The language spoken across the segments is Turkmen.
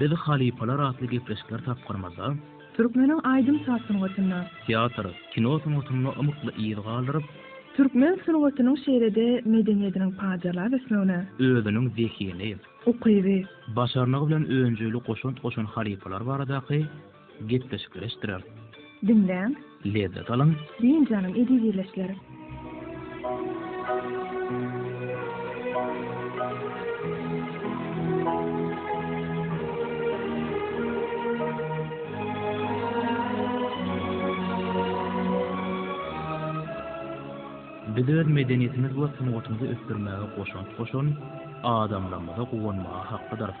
Biz halypalar atly gepleşikler tapgyrymyzda, Türkmeniň aýdym-saz sungatynda. Teatr, kino sungatynda ymykly yz galdyryp. Türkmen sungatynyň şeýle-de medeniýetiniň pajarlap ösmegine. Özüniň zehini. Ukyby. Başarnygy bilen önjeýli goşant goşan halypalar baradaky. Gepleşikleşdirer. Diňläň. Lezzet alyň. Diýen janym ejiz ýerleşdiler. Biz öz medeniýetimiz we sungatymyzy ösdürmäge goşant goşan adamlarymyza guwanmaga haklydyrys.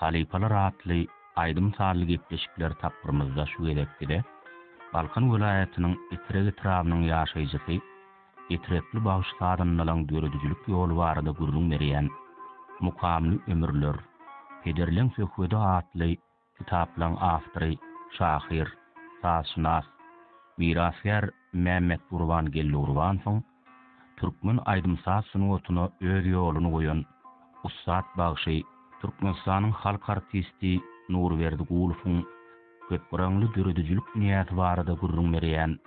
Halypalar atly aýdym-sazly gepleşikler tapgyrymyzda şu gezekki-de Balkan welaýatynyň Etrek etrabynyň ýaşaýjysy, Etrekli bagşy sazandalaň döredijilik ýoly barada gürrüň berýän Mukamly ömürler, pederleň söhbedi atly kitaplaň awtory, şahyr, sazşynas, mirasgär Mämmetgurban Geldiurbanowyň Türkmen aýdym-saz sungatyna öz ýoluny goýan ussat bagşy, Türkmenistanyň halk artisti Nurberdi Gulowyň köpgyraňly döredijilik dünýäsi barada gürrüň berýän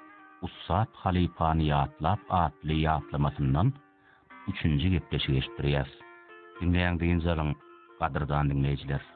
Ussat halypany ýatlap atly ýatlamasyndan üçünji gepleşigi eşitdirýäs. Diňläň dynç alyň, gadyrdan diňleýjiler!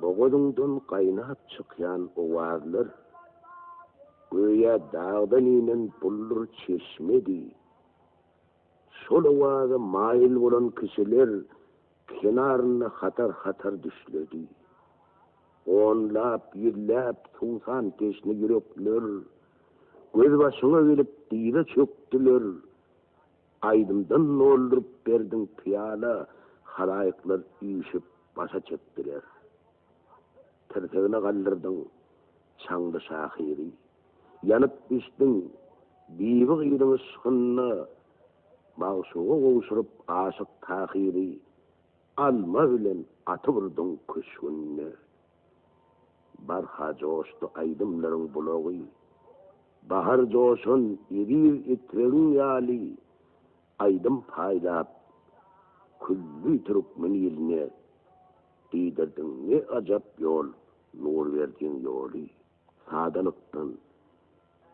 Bogazyňdan gaýnap çykýan owazlar, göýä dagdan inen buldur çeşmedi. Şol owaza maýyl bolan kişiler kenarynda hatar-hatar düşledi. Onlap, ýüzläp suwsan teşne ýürekler gözbaşyňa gelip dyza çökdüler, Aýdymdan dolduryp berdiň pyýala, halaýyklar üýşüp başa çekdiler. Tirsegine galdyrdyň çaňly şahyry. Ýanyp bişdiň bibi gyzyň yşkynda, magşuga gowşuryp aşyk Tahyry. Alma bilen atyp urduň köşgünde. Barha joşdy aýdymlaryň bulagy, Bahar joşan eziz etrigiň ýaly Aýdym paýlap, külli türkmen iline Diýdirdiň ne ajap ýol, nur berdiň ýoly. Sadalykdan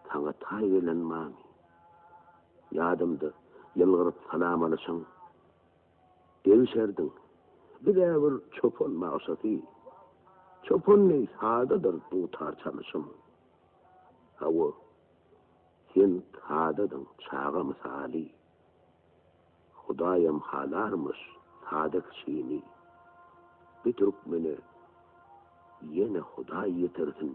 saňa taý gelen many, Ýadymda ýylgyryp salam alyşyň. Degişerdiň. Biz-ä bir çopan bagşasy. Çopan deý sadadyr dutar çalyşym. Hawa, sen sadadyň çaga mysaly. Hudaýam halarmyş sada kişini. Bi türkmene ýene Hudaý ýetirsin.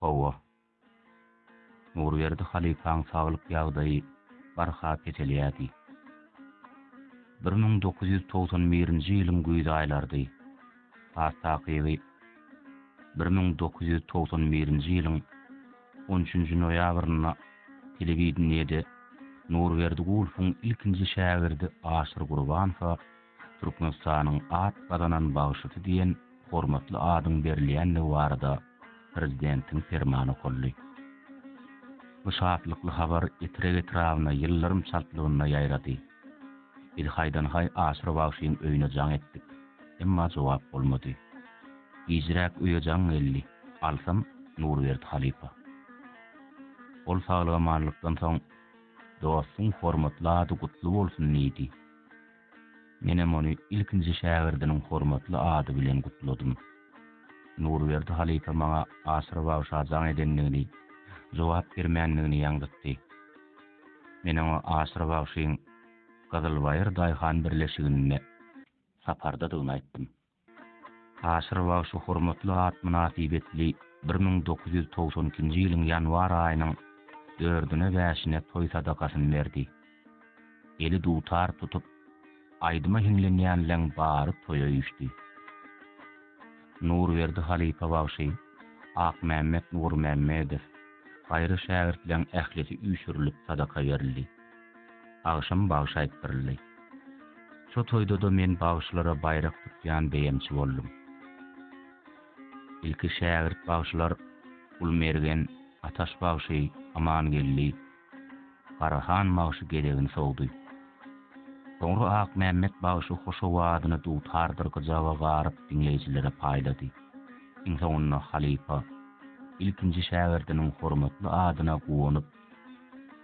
Hawa. Nurberdi halypaň saglyk ýagdaýy barha peselýärdi. Bir müň dokuz ýüz togsan birinji ýylyň güýz aýlarydy. Has takygy, bir müň dokuz ýüz togsan birinji ýylyň on üçünji noýabrynda telewideniýede Nurberdi Gulfoň ilkinji şägirdi Aşyr Gurbanowa Türkmenistanyň at gazanan bagşysy diýen hormatly adyň berilýändigi barada Prezidentiň Permany okaldy. Bu şatlykly habar Etrek etrabyna ýyldyrym çaltlygynda ýaýrady. Biz haýdan-haý Aşyr bagşyň öýüne jaň etdik, emma jogap bolmady. Gijräk öýe jaň geldi, alsam, Nurberdi halypa. Ol saglygamanlykdan soň, Dostuň hormatly ady gutly bolsun diýdi. Menem ony ilkinji şägirdiniň hormatly ady bilen gutladym. Nurberdi halypa maňa aşyr bagşa jaň edendigini, jogap bermändigini ýaňzytdy. Men oňa aşyr bagşyň Gyzylbaýyr daýhan birleşiginde sapardadygyny aýtdym. Aşyr bagşy hormatly at mynasybetli bir müň dokuz ýüz togsan ikinji ýylyň ýanwar aýynyň dördüne-bäşine toý sadakasyny berdi. Eli dutar tutup, aýdyma hiňlenýänleň bary toýa üýşdi. Nurberdi halypa bagşy, Akmämmet Nurmämmedow, gaýry şägirtleň ählisi üýşürilip sadaka berildi. Agşam bagşy aýtdyryldy. Şo toýda-da men bagşylara baýrak tutýan beýemçi boldum. Ilki şägirt bagşylar Gulmergen, Ataş bagşy, Amangeldi, Garahan bagşy gezegini sowdy. Soňra Akmämmet bagşy hoş owazyny dutardyr gyjaga garyp diňleýjilere paýlady. Iň soňunda halypa, ilkinji şägirdiniň hormatly adyna guwanyp,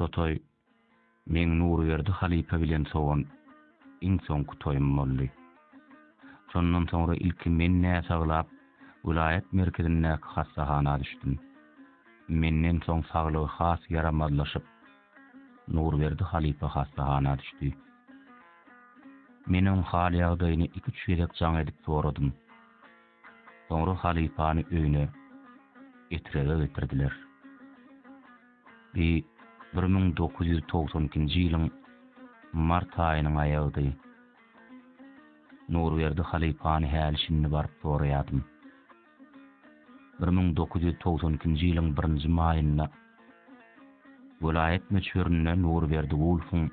Sotoý meň Nurberdi halypa bilen sowan iň soňky toýum boldy. Şondan soňra ilki men näsaglap, welaýat merkezindäki hassahana düşdüm. Menden soň saglygy has ýaramazlaşyp, Nurberdi halypa hassahana düşdi. Men oň hal-ýagdaýyny iki-üç gezek jaň edip soradym. Soňra halypany öýüne Etrege getirdiler. Bi bir müň dokuz ýüz togsan ikinji ýylyň mart aýynyň aýagydy. Nurberdi halypany häli-şindi baryp soraýardym. Bir müň dokuz ýüz togsan ikinji ýylyň birinji maýynda welaýat möçberinde Nurberdi Wulfuň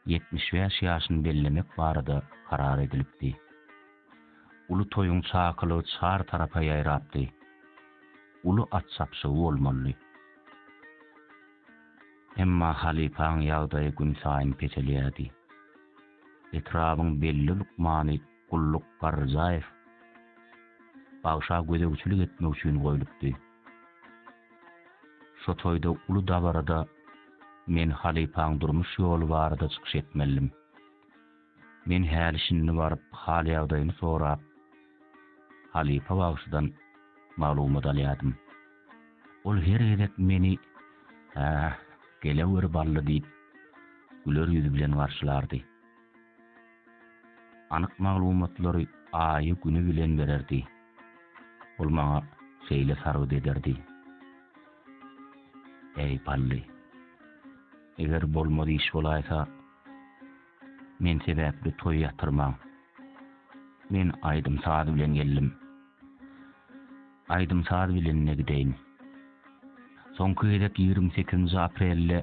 ýetmiş bäş ýaşyny bellemek barada karar edilipdi. Uly toýuň çakylygy çar tarapa ýaýrapdy. Uly at çapyşygy bolmalydy. Emma halypaň ýagdaýy günsaýyn peselýärdi. Etrabyň belli lukmany Gulluk Garryjaýew bagşa gözegçilik etmek üçin goýlupdy. Şo toýda uly dabarada men halypaň durmuş ýoly barada çykyş etmelidim. Men häli-şindi baryp hal-ýagdaýyny sorap, halypa bagşydan maglumat alýardym. Ol her gezek meni Hä, geleweri Bally diýip, güler ýüz bilen garşylardy. Anyk maglumatlary aýy güni bilen bererdi. Ol maňa şeýle sargyt ederdi. Äý Pally. Eger bolmaz iş bolaýsa, men sebäpli toý ýatyrmaň. Men aýdym-saz bilen geldim. Aýdym-saz bilen-de gideýin. Soňky gezek ýigrimi sekizinji aprelde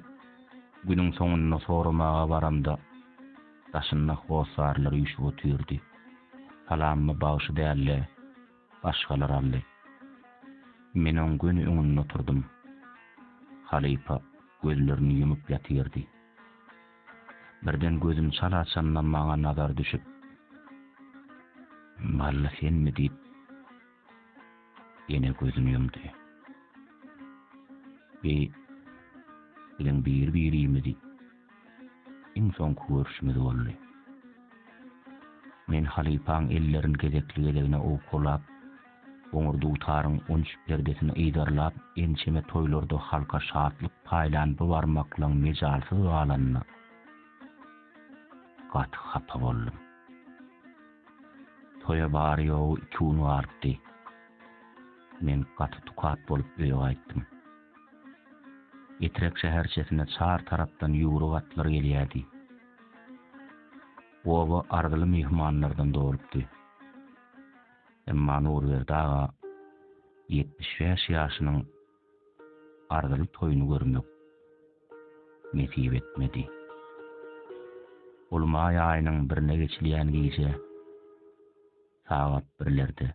günüň soňunda soramaga baramda, Daşynda hossarlar üýşüp otyrdy. Salamymy bagşy däl-de, başgalar aldy. Men oň göni öňünde oturdym. Halypa gözlerini ýumup ýatyrdy. Birden gözüm çala açanda maňa nazary düşüp, Malla senmi? diýip, Ýene gözüni ýumdy. Bi bilen bir-birimizi iň soňky görüşimiz boldy. Men halypaň ellerini gezekli-gezegine owkalap, goňur dutaryň unç perdesini yzarlap, ençeme toýlarda halka şatlyk paýlan bu barmaklygyň mejalsyz galanyna gaty hapa boldum. Toýa bary-ýogy iki gün galypdy. Men gaty tukat bolup öýe gaýtdym. Etrek şäherçesine çar tarapdan ýüwrük atlar gelýärdi. Oba arzyly myhmanlardan dolupdy. Emma Nurberdi aga ýetmiş bäş ýaşynyň arzyly toýuny görmek nesip etmedi. Ol maý aýynyň birine geçilýän gije sagat birlerde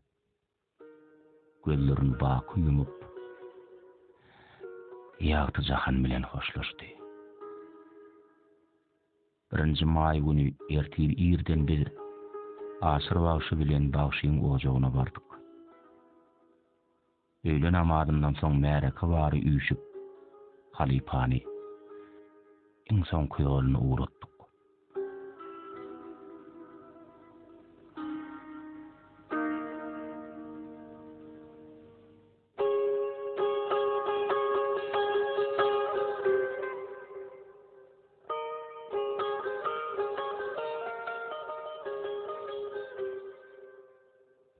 gözlerini baky ýumup, ýagty jahan bilen hoşlaşdy. Birinji maý güni ertir irden biz Aşyr bagşy bilen bagşyň ojagyna bardyk. Öýle namazyndan soň märeke bary üýşüp, halypany iň soňky ýoluna ugratdyk.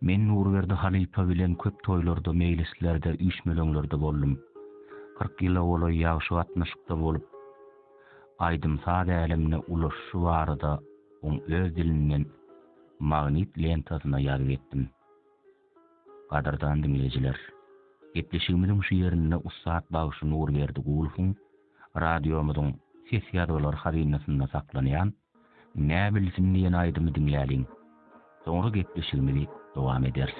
Men Nurberdi halypa bilen köp toýlarda, meýlislerde, üýşmeleňlerde boldum. Kyrk ýyla golaý ýagşy gatnaşykda bolup, aýdym-saz älemine ulaşyşy barada oň öz dilinden magnit lentasyna ýazgy etdim. Gadyrdan diňleýjiler, gepleşigimiziň şu ýerinde ussat bagşy Nurberdi Gulowyň radiomyzyň ses ýazgylar hazynasynda saklanýan Nä bilsin diýen aýdymy diňläliň. Soňra gepleşigimizi dowam ederis.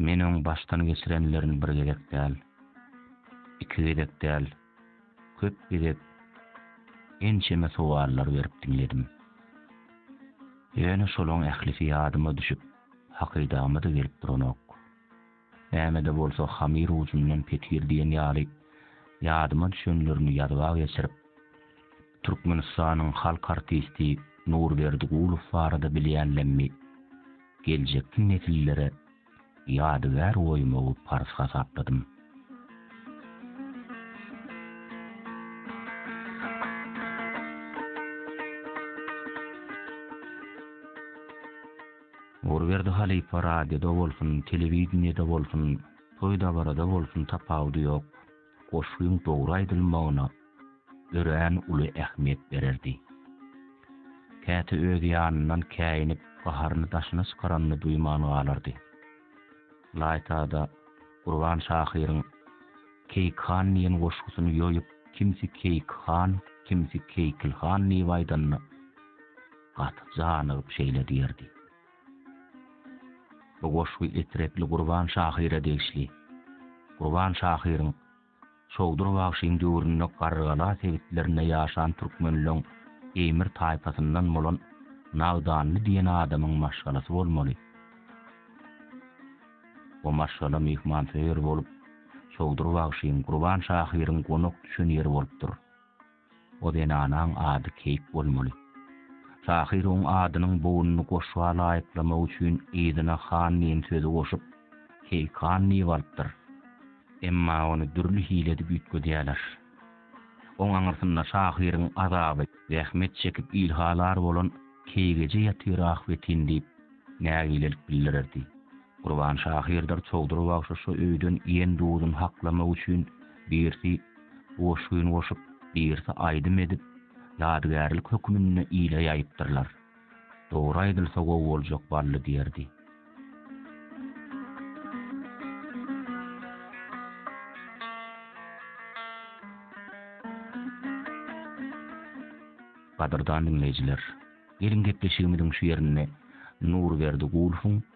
Men oň başdan geçirenlerini bir gezek däl, iki gezek däl, köp gezek ençeme sowallar berip diňledim. Ýöne şolaň ählisi ýadyma düşüp, hakydama-da gelip duranok. Näme-de bolsa hamyr ujundan petir diýen ýaly ýadyma düşenlerini ýazyba geçirip, Türkmenistanyň halk artisti Nurberdi Gulow barada bilýänlemmi geljekki nesillere ýadygär goýmagy parz hasapladym. Nurberdi halypa radioda bolsun, telewideniýede bolsun, toý-dabarada bolsun tapawudy ýok. goşgyň dogry aýdylmagyna örän uly ähmiýet bererdi. Käte öz ýanyndan käýinip, gaharyny daşyna çykaranyny duýman galardy. Laýta-da, Gurban şahyryň Keýik han diýen goşgusyny ýoýup, kimsi Keýik han, kimsi Keýkil han diýip aýdanyna gaty janygyp şeýle diýerdi. Bu goşgy Etrepli Gurban şahyra degişli. Gurban şahyryň Çowdur bagşyň döwründe Garrygala sebitlerinde ýaşan türkmenleň Eýmir taýpasyndan bolan Nagdanly diýen adamyň maşgalasy bolmaly. O maşgala myhmansöýer bolup, Çowdur bagşyň, Gurban şahyryň gonak düşen ýeri bolupdyr. O zenanaň ady Keýik bolmaly. Şahyr oň adynyň bogunyny goşga laýyklamak üçin yzyna han diýen sözi goşup, Keýikhan diýip alypdyr. Emma ony dürli hile edip üýtgedýärler. Oň aňyrsynda şahyryň azaby, zähmet çekip il halar bolan Keýik eje ýatyr ahbetin diýip, nägilelik bildirerdi. Gurban şahyrdyr çowdur bagşyşa öýden iýen duzun haklamak üçin birsi goşgyn goşup, birsi aýdym edip, ýadygärlik hökmünde ile ýaýypdyrlar. Dogry aýdylsa gowy boljak Bally diýerdi. Gadyrdan diňleýjiler, geliň gepleşigimiziň şu ýerinde Nurberdi Gulfyň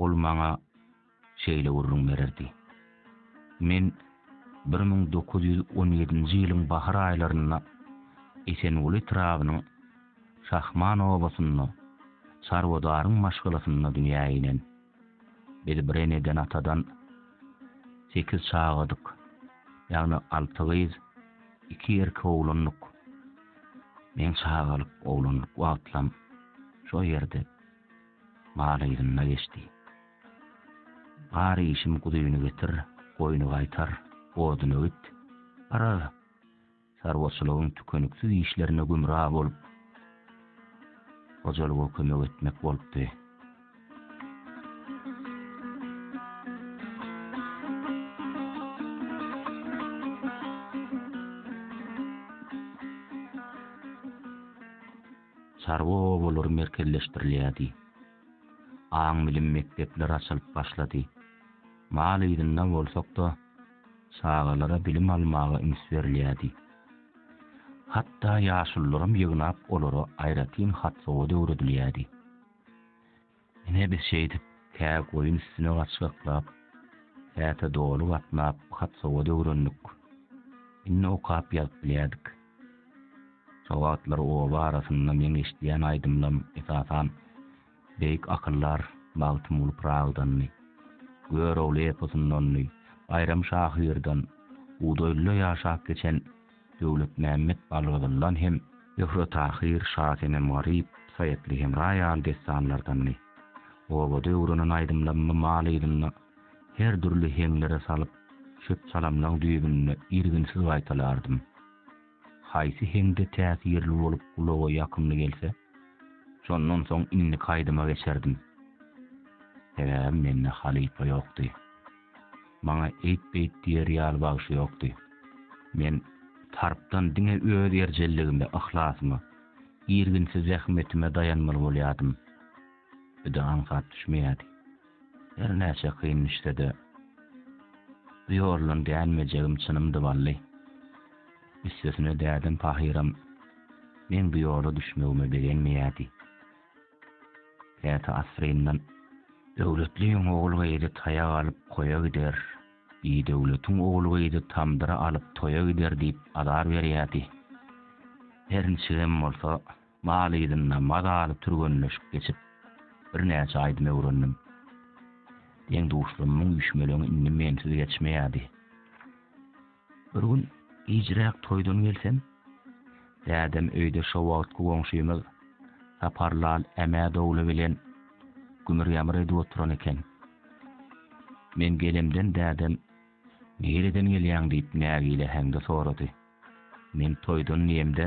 Ol maňa şeýle gürrüň bererdi. Men bir müň dokuz ýüz on ýedinji ýylyň bahar aýlarynda Esenguly etrabynyň Şahman obasynda çarwadaryň maşgalasynda dünýä inen. Biz bir eneden-atadan sekiz çagadyk, ýagny alty gyz, iki erkek oglandyk. Meň çagalyk, oglanlyk wagtlam şo ýerde. Bar yzynda geçdi. Gar işim guzyny getir, goýny gaýtar, oduny öwüt. Garaz, çarwaçylygyň tükeniksiz işlerine gümra bolup, hojalyga kömek etmek bolupdy. Çarwa obalary merkezleşdirilýärdi. Aň-bilim mekdepleri açylyp başlady. Mal yzynda bolsak-da, çagalara bilim almaga üns berilýärdi. Hatda ýaşulularam ýygnap olara aýratyn hat-sowat öwredilýärdi. Ine biz şeýdip, kä goýun üstüne gaçgaklap, käte doly gatnap hat-sowat öwrendik. Indi okap-ýazyp bilýärdik. Şo wagtlar oba arasynda meň eşidýän aýdymlam, esasan, beýik akyldar Magtymguly Pyragydandy, Görogly eposyndandy, Baýram şahyrdan, Budaýlyda ýaşap geçen Döwletmämmet Balgyzyldan hem Zöhre Tahyr, Şasenem Garyp, Saýatly Hemra ýaly dessanlardanmy, obada öwrenen aýdymlarmy mal yzynda her dürli heňlere salyp, çöp-çalamlaň düýbünde irginsiz gaýtalardym. Haýsy heňde täsirli bolup gulaga ýakymly gelse, şondan soň indiki aýdyma geçerdim. Sebäbi mende halypa ýokdy. Maňa eýt-beýt diýer ýaly bagşy ýokdy. Men Sarpdan diňe öz erjelligime, yhlasyma, irginsiz zähmetime daýanmaly bolýardym. Bide aňsat düşmeýärdi. Her näçe kyn düşse-de, bu ýoldan dänmejegim çynymdy Bally. Üstesine dädem pahyram meň bu ýola düşmegime begenmeýärdi. Käte asyryndan Döwletliň ogul-gyzy taýak alyp koýa gider, bidöwletiň ogul-gyzy tamdyry alyp toýa gider diýip azar berýärdi. Her niçigem bolsa, mal yzynda mazaly türgenleşik geçip, birnäçe aýdym öwrendim. Deň-duşlarymyň üýşmeleňi indi mensiz geçmeýärdi. Bir gün gijräk toýdan gelsem, dädem öýde şo wagtky goňşymyz Saparlal Ämädogly bilen gümür-ýamyr edip oturan eken. Men gelemden dädem Nireden gelýäň diýip nägile heňde sorady. Men toýdan diýemde,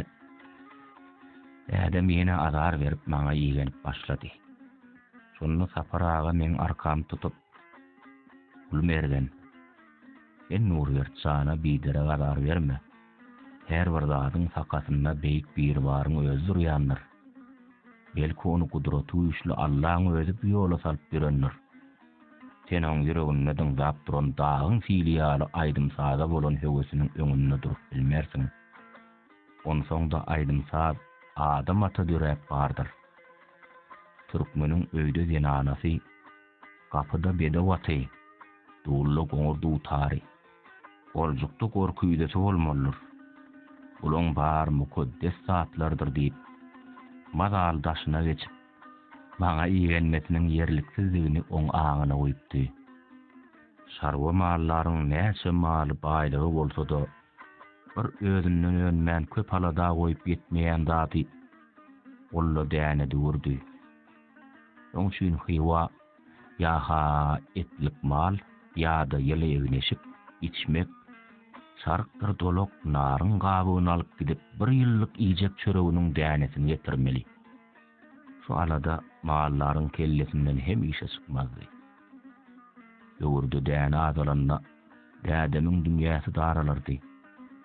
dädem ýene azar berip maňa igenip başlady. Şonda Sapar aga meň arkamy tutup, Gulmergen, Sen Nurberdi jana biderek azar berme. Her bir zadyň sakasynda Beýik Biribaryň özi durýandyr. Belki ony gudraty güýçli Allaň özi bu ýola salyp ýörendir. Sen oň ýüreginde dyňzap duran dagyň sili ýaly aýdym-saza bolan höwesiniň öňünde durup bilmersiň. Onsoň-da aýdym-saz adam ata döräp bardyr. Türkmeniň öýde zenanasy. Gapyda bedew aty, dulda goňur dutary, oljukda gor küýzesi bolmalydyr. Bulaň bary mukaddes zatlardyr diýip, Mazal daşyna geçip, maňa igenmesiniň ýerliksizdigini oň aňyna guýupdy. Çarwa mallaryň näçe maly baýlygy bolsa-da, bir özünden önmän köp alada goýup ýetmeýän zady, golla däne düwürdi. Oň üçin Hywa ýa-ha etlik mal, ýa-da ýyly egin-eşik, içmek, çarykdyr dolak naryň gabygyny alyp gidip, bir ýyllyk iýjek çöreginiň dänesini getirmeli. Şu alada mallaryň kellesinden hemişe çykmazdy. Böwürde däne azalanda, dädemiň dünýäsi daralardy.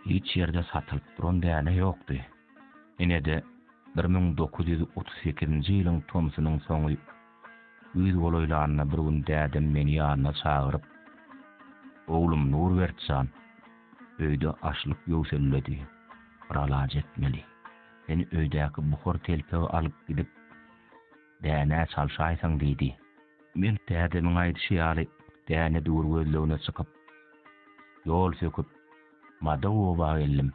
Hiç ýerde satylyp duran däne ýokdy. Ine-de, bir müň dokuz ýüz otuz sekizinji ýylyň tomsunyň soňy. Güýz golaýlanda bir gün dädem meni ýanyna çagyryp, Oglum Nurbert jan, öýde açlyk ýöwselledi. Biralaç etmeli. Sen öýdäki buhar telpegi alyp gidip, däne çalşaýsaň diýdi. Men dädemiň aýdyşy ýaly däne-düwür gözlegine çykyp, ýol söküp, Mada oba geldim.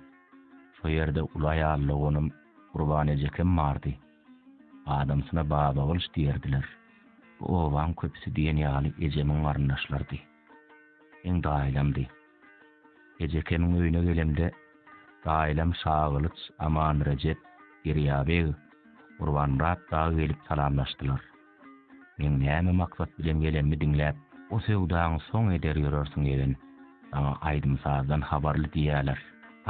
Şo ýerde uly aýal doganym Gurban ejekem bardy. Adamsyna Babagylyç diýerdiler. Bu obaň köpüsi diýen ýaly ejemiň garyndaşlarydy. Heň daýylamdy. Ejekemiň öýüne gelemde, daýylam Şagylyç, Amanrejep, Derýabeg, Gurbanmyrat dagy gelip salamlaşdylar. Meň näme maksat bilen gelenimi diňläp, o söwdaňy soň eder ýörersiň ýegen. Saňa aýdym-sazdan habarly diýýäler.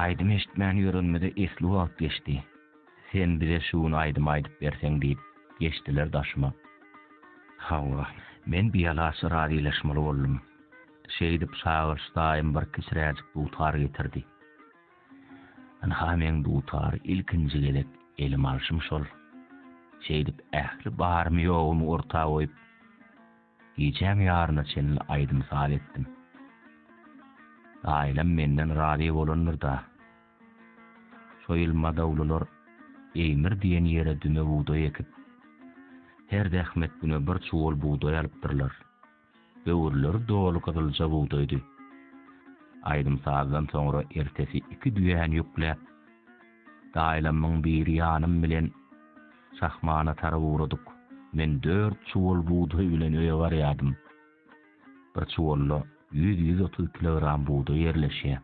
Aýdym eşitmän ýörenimize esli wagt geçdi. Sen bize şu gün aýdym aýdyp berseň diýip, geçdiler daşyma. Hawa, men bialaç razylaşmaly boldum. Şeýdip, çagyryş daýym bir kiçiräjik dutar getirdi. Ynha meň dutary ilkinji gezek elime alşym şol. Şeýdip ähli barymy-ýogumy orta goýup, gijäň ýaryna çenli aýdym-saz etdim. Aýlam menden razy bolandyr-da. Şo ýyl madawlylar Eýmir diýen ýere düme bugdaý ekip, her zähmet güne bir çuwal bugdaý alypdyrlar. Böwürleri doly gyzylja bugdaýdy. Aýdym-sazdan soňra ertesi iki düýäni ýükläp, daýlamyň biri ýanym bilen şahmana tarap ugradyk. Men dört çuwal bugdaý bilen öýe barýardym. Bir çuwalda ýüz-ýüz otuz kilogram bugdaý ýerleşýär.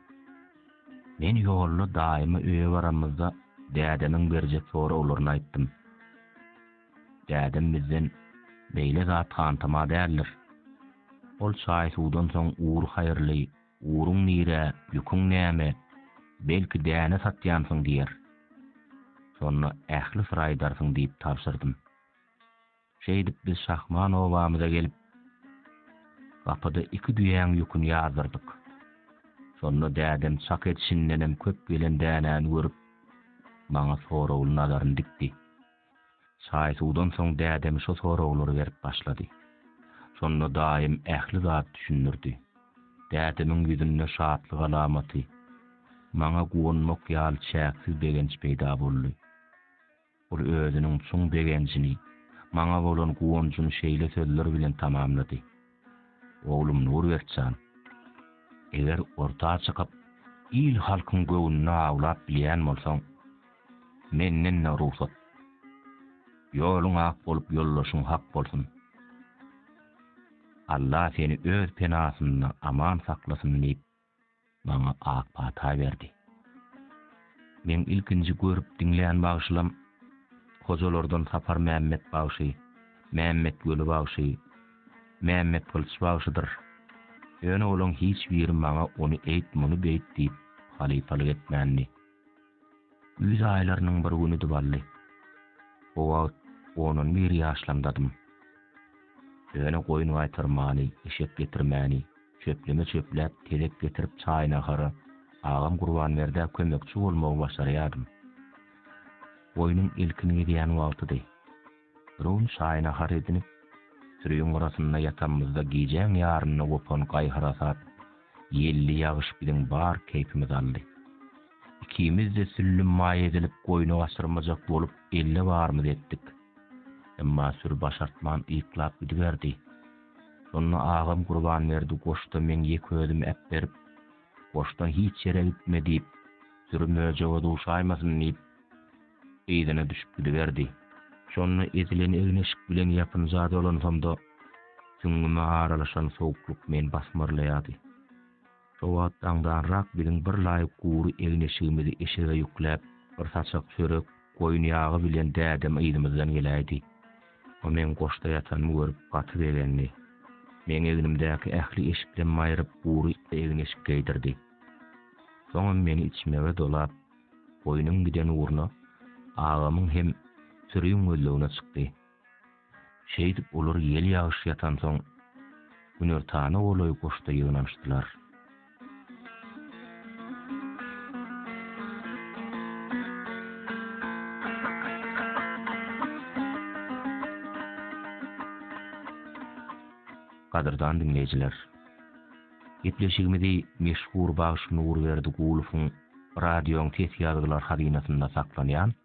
Men ýolda daýyma öýe baramyzda dädemiň berjek soraglaryny aýtdym. Dädem bizden beýle zat hantama däldir. Ol çaý-suwdan soň ugur haýyrly, ugruň nirä, ýüküň näme, belki däne satýansyň diýer. Şonda ähli syry aýdarsyň diýip tabşyrdym. Şeýdip biz Şahman obamyza gelip, gapyda iki düýäň ýüküni ýazdyrdyk. Şonda dädem çak edişindenem köp gelen dänäni görüp, maňa soragly nazaryny dikdi. Çaý-suwdan soň dädem şo soraglary berip başlady. Şonda daýym ähli zat düşündirdi. Dädemiň ýüzünde şatlyk alamaty, maňa guwanmak ýaly çäksiz begenç peýda boldy. Ol özüniň çuň begenjini, maňa bolan guwanjyny şeýle sözler bilen tamamlady. Oglum Nurbek jan, eger orta çykyp, il-halkyň göwnüni awlap bilýän bolsaň, menden-de rugsat. Ýoluň ak bolup, ýoldaşyň hak bolsun. Alla seni öz penasynda aman saklasyn diýip, maňa ak pata berdi. Meň ilkinji görüp diňlän bagşylam Hojalardan Sapar Mämmet bagşy, Mämmet Weli bagşy, Mämmet Gylyç bagşydyr. Ýöne olaň hiç biri maňa ony eýt muny beýt diýip halypalyk etmändi. Güýz aýlarynyň bir günüdi bally. O wagt ondan bir ýaşlamdadym. Ýöne goýun gaýtarmany, eşek getirmäni, Çöpleme çöpläp, telek getirip çaý-nahara agam Gurbanberdä kömekçi bolmagy başarýardym. Goýnuň ilkin gezýän wagtydy. Biruny çaý-nahar edinip, süriň gyrasynda ýatanymyzda gijäň ýarynda gopan gaý-harasat, ýelli ýagyş biziň bar keýpimizi aldy. Ikimiz-de süllüm maý edilip goýny gaçyrmajak bolup elle barymyzy etdik. Emma süri başartman yklap gidiberdi. Şonda agam Gurbanberdi goşda meň ýeke özüm äpberip, goşdan hiç ýere gitme diýip, süri möjege duşaýmasyn diýip, yzyna düşüp gidiberdi. Şonda ezilen egin-eşik bilen ýapynja dolansamda, süňňüme aralaşan sowuklyk meni basmarlaýardy. Şo wagt daňdanrak biziň bir laýyk gury egin-eşigimizi eşege ýükläp, bir saçak çörek, goýun ýagy bilen dädem yzymyzdan geläýdi. O meň goşda ýatanymy görüp, gaty begendi. Meň egnimdäki ähli eşiklem aýryp, gury egin-eşik geýdirdi. Soňam meni içmege dolap, goýnuň giden ugruna, agamyň hem süriň gözlegine çykdy. Şeýdip, olar ýel-ýagyş ýatansoň, günortana golaý goşda ýygnanyşdylar. Gadyrdan diňleýjiler! Gepleşigimizi meşhur bagşy Nurberdi Gulowyň Radioň ses ýazgylar hazynasynda saklanýan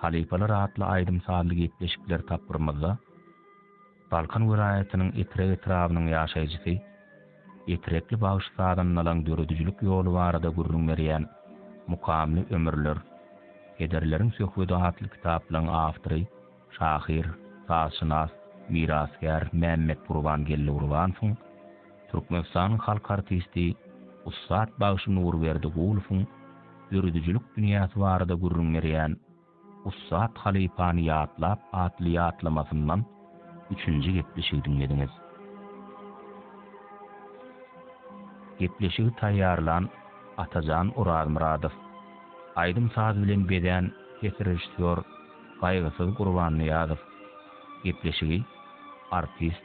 Halypalar atly aýdym-sazly gepleşikler tapgyrymyzda Balkan welaýatynyň Etrek etrabynyň ýaşaýjysy, Etrekli bagşy sazandalaň döredijilik ýoly barada gürrüň berýän Mukamly ömürler, pederleriň söhbedi atly kitaplaň awtory, şahyr, sazşynas, mirasgär Mämmetgurban Geldiwrwanowyň, Türkmenistanyň halk artisti, ussat bagşy Nurberdi Gulowyň döredijilik dünýäsi barada gürrüň berýän Ussat halypany ýatlap atly ýatlamasyndan üçünji gepleşigi diňlediňiz. Gepleşigi taýýarlan Atajan Orazmyradow, aýdym-saz bilen bezän ses režissýor Gaýgysyz Gurbannyýazow, gepleşigi artist,